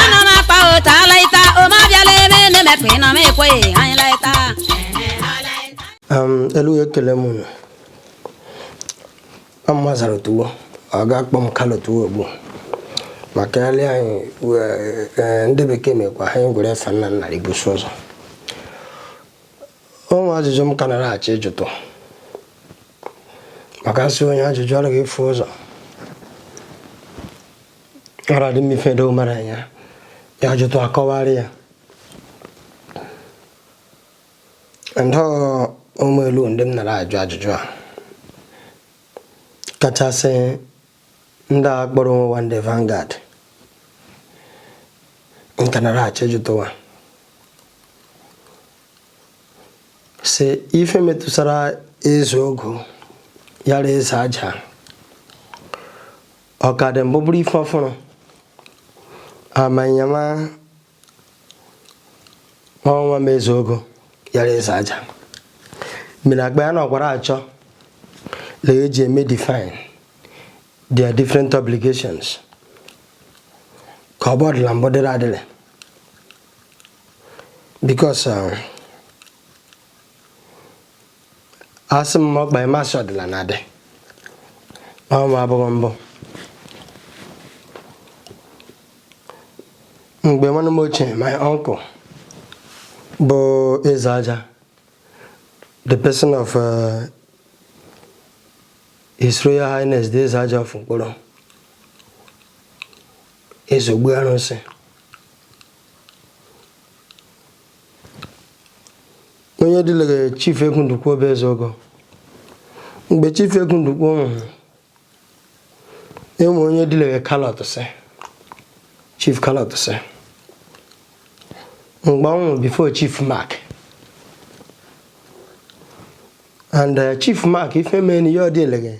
ana m akpa ụta alaịta ụma bịala ebe na-emepụ ịnọ m ekweghị anyị laịta ụmụ elu ekele m unu ọmụma zara otuwo ọ ga-akpọ m Kalu Otuwo ugbu ma kelele anyị wee- ee, ndị bekee mekwa ha anyị gwere efe nna nna ibuso ụzọ o nwe ajụjụ m ka nara achọ ịjụtụ maka asị onye ajụjụ anaghị efu ụzọ ọrụ adị m ife edo mara ya ya jụtụ akọwarị ya ndị ụmụ elu ndị nara ajụ ajụjụ a kachasị ndị a kpọrọ onwe wa ndị Vanguard nka nara achọ ịjụtụwa si ife metụsara eze ogo yara eze aja ọ ka dị mbụ bụrụ ife ọfụrụ amanyama ọnwa m eze ogo yara eze aja mere agba ya na ọgwara achọ na eji eme define their different obligations ka ọ bụ ọ dịla mbụ dịrị adịrị because um, asị m kpa ị ma sị ọ dịla na adị ọma abụghị mbụ mgbe nwanne m ochie my uncle bụ eze aja the person of uh, His Royal Highness the eze aja of Nkporo eze Ogbu Arunsi onye dịlere chief Egwu Ndukwe bụ eze ogo mgbe chief Egwu Ndukwe nwụrụ enwe onye dịlere Kalu Otisi chief Kalu Otisi mgbe ọ nwụrụ before chief Mark and uh, chief Mark ife mee na ihe ọ dịlere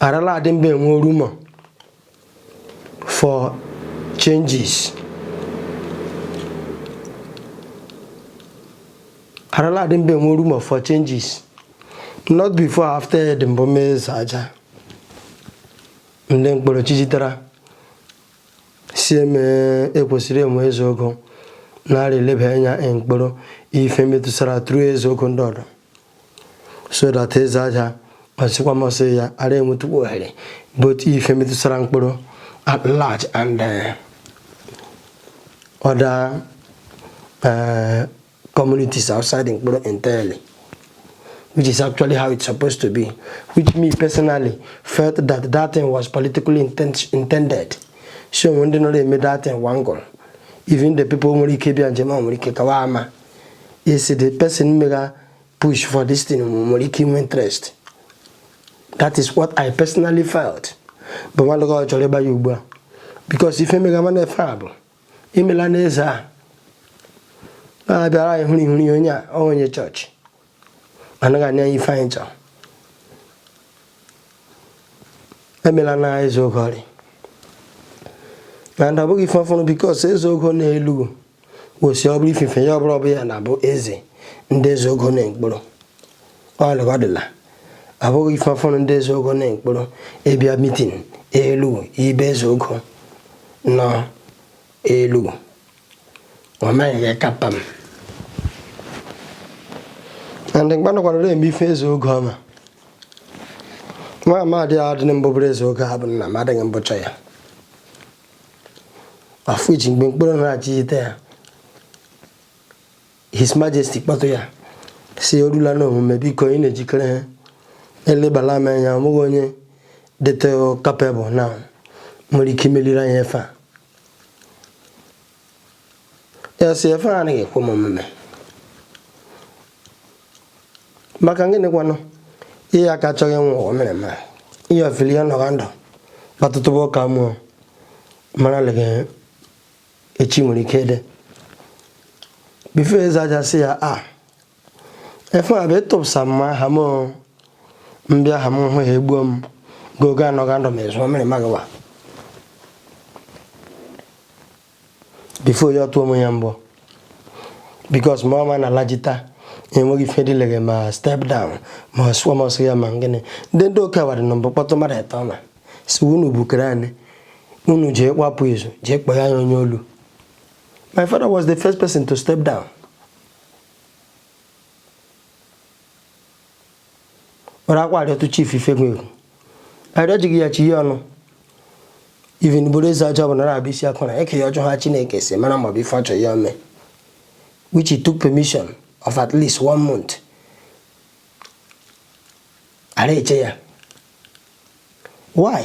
arala adị mgbe enwe room for changes arala adị mgbe enwe room for changes not before after ed mbụ m eze aja ndị Nkporo chijitara si eme ekwesịrị enwe eze ogo na-arị eleba anya Nkporo ife metụsara tru eze ogo ndị ọdọ so that eze aja kpachikwa masị ya ara enwetukwa ohere bụ otu ife metụtara Nkporo at large and uh, other uh, communities outside Nkporo entirely which is actually how it's supposed to be which me personally felt that that thing was politically intent intended so when they know they made that thing one goal even the people nwere ike bịa njem a nwere ike kawa ama is the person mega push for this thing nwere ike inwe interest that is what i personally felt bụ nwanne gị chọrọ ịgba ya ugbu a because ife mega n'ife a bụ imela n'eze a na-abịara anyị hụrụ ihụrụ ihe onye a onye chọọchị anaghị anya ife anyị chọrọ emela na eze ogo ọrịa na ọ bụghị ife ọfụrụ because eze ogo nọ Elughu kwesịrị ọ bụrụ ifufe ya ọ bụrụ ọ bụ ya na-abụ eze ndị eze ogo na Nkporo ọlụgodịla abụghị ife ọfụrụ ndị eze ogo na Nkporo ịbịa mitin Elughu ibe eze ogo nọ Elughu ọ maghị gị kapa m ndị mgbanụkwara na-eme ife eze ogo ọma nwa amadị a dị mbụ bụrụ eze ogo a bụ nna m adịghị mbụcha ya afọ eji mgbe Nkporo na achịjite ya his majesty kpọtụ ya si orula na omume biko ị na-ejikere ha elebala m anya onweghị onye dịtụ capable na nwere ike imeliri anyị ife a Ọ sị ya ife a anaghị ekwe m omume maka gịnịkwanụ ihe aka achọghị nwa ụwa mere ma ihe ofili ya nọga ndụ kpatụtụba ka mụ mara leghe echi nwere ike dị before eze aja sị ya a ife a bụ ịtụpụsa m aha m mbịa aha m hụ ya egbuo m gogo anọ ga ndụ m ezu mere magawa before ya ọtụọ m ya mbụ because ma ọma na alajita enweghị ife dịleghe ma step down ma sụọ m ọsọ ya ma gịnị ndị ndị oke awadị na mbụ kpọtụ mmadụ ịtọ na si unu bukere anyị unu jee gbapụ izu jee kpọọ ya onye olu my father was the first person to step down were akwa arịọtụ chief ifegwegwu arịọjighị ya chi ihe ọnụ even bụrụ eze aja bụ na na-abụ isi akụ na eke ya ọjọọ ha chineke si mara maọbụ ife ọchọ ya ome which he took permission of at least one month ara eche ya why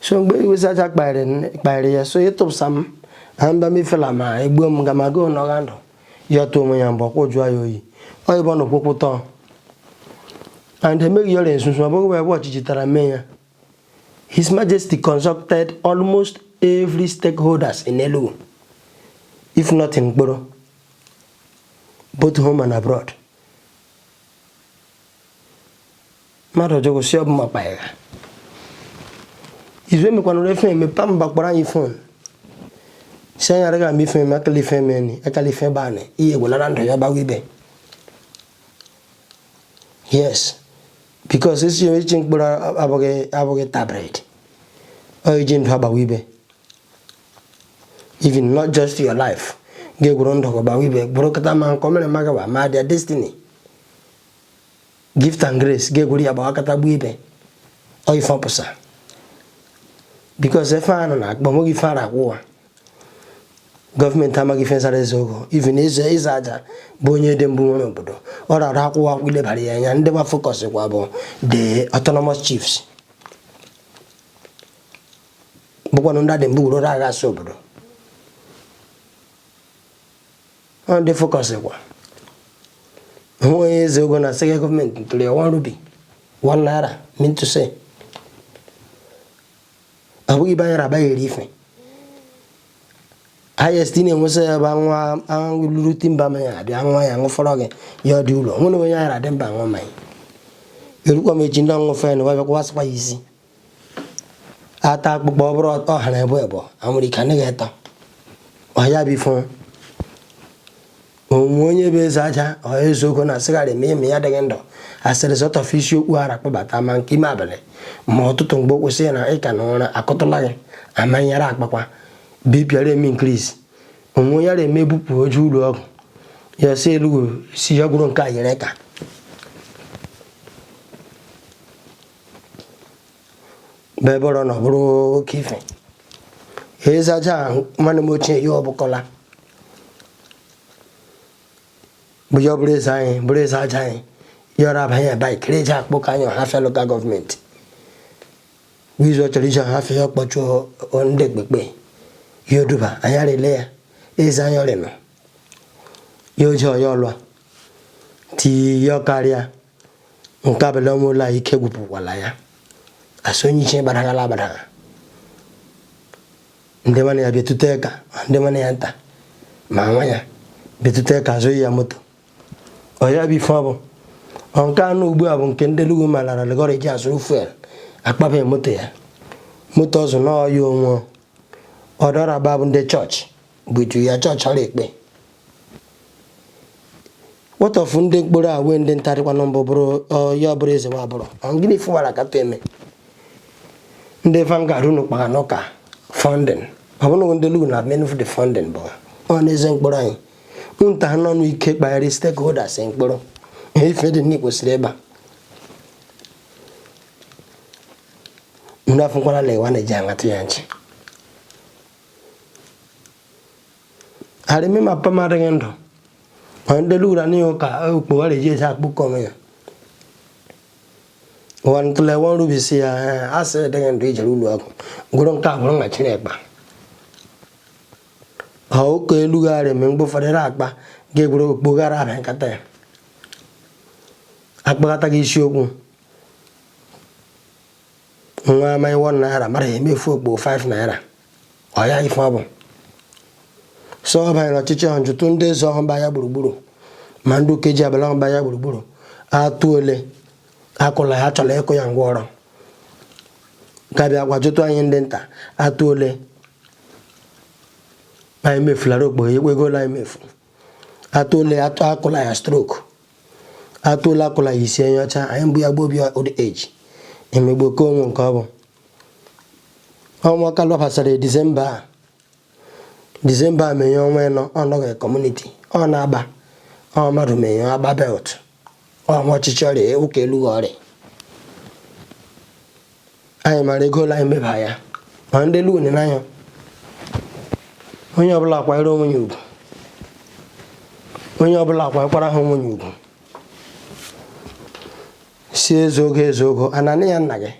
so mgbe iwe eze aja kparịrị ya so ịtụpụsa m na mba mefela ma egbuo m ga ma goo nọgha ndụ ya tụọ onwe ya mgbe ọkwụ jụọ ya oyi oyịbọ na okwụkwụ tọọ and emeghị ọrịa nsunsu ọ bụghị ebe ọchịchị tara mee ya His Majesty consulted almost every stakeholders in Elughu if not in Nkporo both home and abroad mmadụ ọjọọ si ọbụ makpa ya izu emekwana ore phone emepe mba kpọrọ anyị phone si anyị araghị ama ife eme akala ife eme ni akala ife ebe anị ihe egwulara ndụ ya gbawa ibe yes because esi ya echi mkpụrụ abụghị abụghị tabred ọ iji ndụ agbawa ibe even not just your life ga-egwuru ndụ gị gbawa ibe burukọta ma nke ụmụrima gbawa ma their destiny gift and grace ga-egwere ya gbawakọta gbuo ibe ọ ife ọpụsa because ife a nọ na akpa onweghị ife ara akwụ wa government amaghị ife nsara eze ogo even eze aja bụ onye dị mbụ nwere obodo ọ rara akwụkwọ akwụ ilebara ya anya ndị wa focus kwa bụ the autonomous chiefs bụkwanụ ndị adị mbụ wuru agha asụ obodo ọ ndị focus kwa onwe onye eze ogo na sịga government tụrụ ya one rubi one naira mean to say ọ bụghị ibe anyị rabaghị eri ife highest ị na-enwesa ya bụ nwa lụrụ timba mmanya abịa nwa ya ṅụfọrọ gị ya ọ dị ụlọ nwere onye anyị radị mba aṅụ mmanya erukwa m echi ndị ọṅụfe na wa bịakwa wa sịkwa ya isi ata akpụkpọ ọ bụrụ ọ hara ebe ebe anwụrụ ike anaghị eta ọhịa bụ ife onwe onye bụ eze aja or eze ogo na asịgharị ma ime ya adịghị ndụ asịrị zọtọfe isi okpu ara kpọbata ma nke ime abalị ma ụtụtụ mgbe o kwụsị na ị ka nọ ụra akụtụla gị amanyere akpakwa bipịara eme increase onwe onye ara eme ebupụ oju ụlọ ọgwụ ya si Elughu si ya gwụrụ nke a yere ka bee bọrọ na ọ bụrụ oke ife eze aja ahụ nwanne m ochie ya ọbụkọla bụ ya ọ bụrụ eze anyị bụrụ eze aja anyị yọrọ abanye bike reji akpụ ka anyị Ọhafịa local government bụ izu ọ chọrọ iji Ọhafịa ya ọkpọchụ ndị ekpekpe ya oduba anyị arịle ya eze anyị ọrịnọ ya oji ọya ọlụa ti ya ọkarịa nke ọbụla onwe ụlọ anyị ike gwụpụkwala ya asị onye iche gbadaghala agbadaga ndị nwanne ya bịa tute ka ndị nwanne ya nta ma nwa ya bịa tute ka a zụ ya moto ọ ya bụ ife ọ bụ nke anụ ugbu a bụ nke ndị Elugu ma lara legọrị ji azụrụ fuel akpabeghị moto ya moto ọzụ n'ọya onwe ọdọrọ abụ ndị chọọchị butu ya chọọchị ọrụ ekpe What of ndị mkporo a wee ndị nta dịkwanụ bụ ya bụrụ eze wa bụrụ gịnị ị fụwara ka eme ndị Vanguard unu kpara n'ụka funding ọ bụrụ ndị lu na menu the funding bụ ọ na eze mkporo anyị nta ha n'ọnụ ike kparị stakeholders mkporo ihe ife dị nne kwesịrị ịba unu afụkwala na ịwa na-eji aṅatụ ya nchi arịmị ma papa m adịghị ndụ ma ndị lura n'ihi ụka okpogho ha eji eji akpụkọ onwe ya ụwa ntụle wọn rubisi ya asị dịghị ndụ i jere ụlọ ọgwụ gwụrụ nke a gwụrụ nwa chịrị ekpa ha ụka elu gharị mgbe mgbe ụfọdụ ra akpa ga-egwere okpogho gara abịa nkata ya akpakọta gị isiokwu nwa amaghị one naira mara ya emefu okpogho 5 naira ọ ya ife ọ bụ so ọ banyere ọchịchị ahụ jụtụ ndị eze ọhụ mba ya gburugburu ma ndị ukeji ọbụla ọhụ mba ya gburugburu atụ ole akụla ya chọrọ ịkụ ya ngwa ọrụ ka bịakwa jụtụ anyị ndị nta atụ ole anyị mefulara okpogho ya ekwegola anyị mefu atụ ole akụla ya stroke atụ ole akụla ya isi enye ọcha anyị mbụ ya gbuo obi old age emegbu oke onwe nke ọ bụ ọnwa kalụ gbasara disemba a disemba a menye ọnwa ịnọ ọnọghị community ọ na-agba ọ mmadụ menye agba belt ọnwa ọchịchị ọrịa ụka elu ọrịa anyị mara ego ole anyị meba ya ma ndị Elugu na n'anya onye ọbụla akwanyere onwe ya ugwu onye ọbụla akwanyekwara ha onwe ya ugwu sị ezeogo ezeogo ananị ya nna gị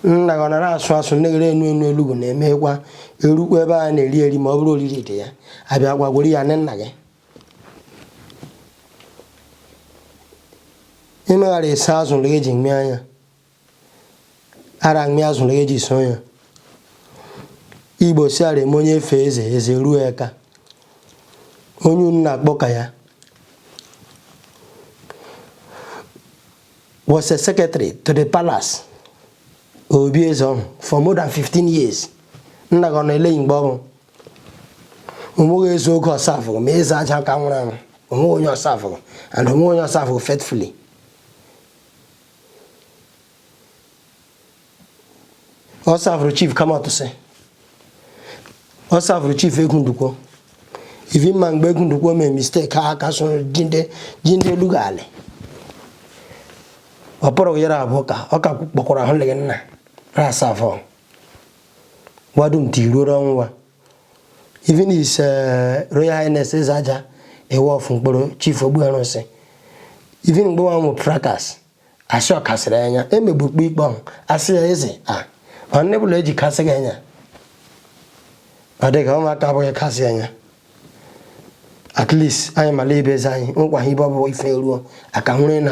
nna gị ọ nara asụ asụ neghere enu enu Elugu na-emekwa erukwa ebe a na-eri eri ma ọ bụrụ oriri dị ya abịa gwagworo ya nị nna gị ịmegharị ese azụ lụrụ eji mmịa anya ara mmịa azụ lụrụ eji so ya Igbo sị ara eme onye fee eze eze ruo eka onye unu na-akpọ ka ya was a secretary to the palace obi eze ọhụ for more than 15 years nna gị ọ na-eleghị mgbe mbụ onweghị eze ogo ọ savụghị ma eze aja ka nwụrụ anwụ onweghị onye ọ savụghị and onweghị onye ọ savụghị faithfully ọ savụrụ chief kamatụsị ọ savụrụ chief egwu ndukwo even ma mgbe egwu ndukwo mee mistake ha ka so ji ndị elughu alị ọ pụrụ year abụọ ka ọ ka kpọkwara ahụ lịghị nna ra asavụ wa dum ti ruoro ọnwụ wa even his eh, royal highness eze aja iwo of nkporo chief ogbu arụnsị even mgbe wa nwe fracas asị ọ kasịrị anya emegbukpo ikpe ọhụ asị ya eze a ọnne bụla eji kasị gị anya ọ dị ka ụmụaka abụghị kasị anya at least anyị mara ibe eze anyị nkwa ha ibe ọ bụ ife ruo aka hụrụ na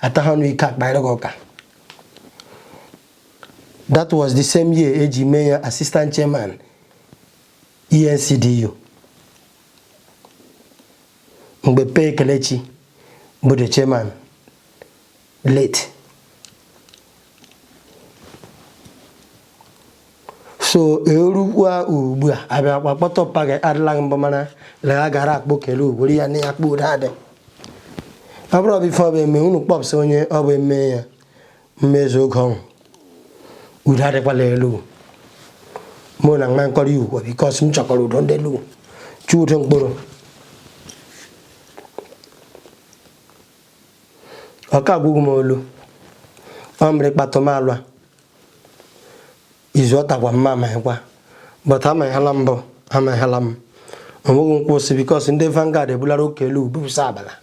ata ha ọnụ ike akparịghị ụka that was the same year eji mee ya assistant chairman ENCDU mgbe Pee Kelechi bụ the chairman late so erukwa ugbu a abịa kpakpọta ọpa gị adịla mbụ mana lega gara akpụ kele ugboro ya na ya kpụ ụda adị ọ bụrụ ọ bụ ife ọ bụ eme unu kpọpsị onye ọ bụ eme ya mmezu oge ọhụ udo adịkwala elughu mụ na nwa nkọrọ ya okwu because m chọkwara udo ndị elughu chọ udo nkporo ọka agwụghị m olu ọ mere kpatụ m alụa izu ọ takwa mma amaghịkwa but amaghịla mbụ amaghịla m onweghị nkwụsị because ndị vanguard ebulara oke elughu bupụsa abala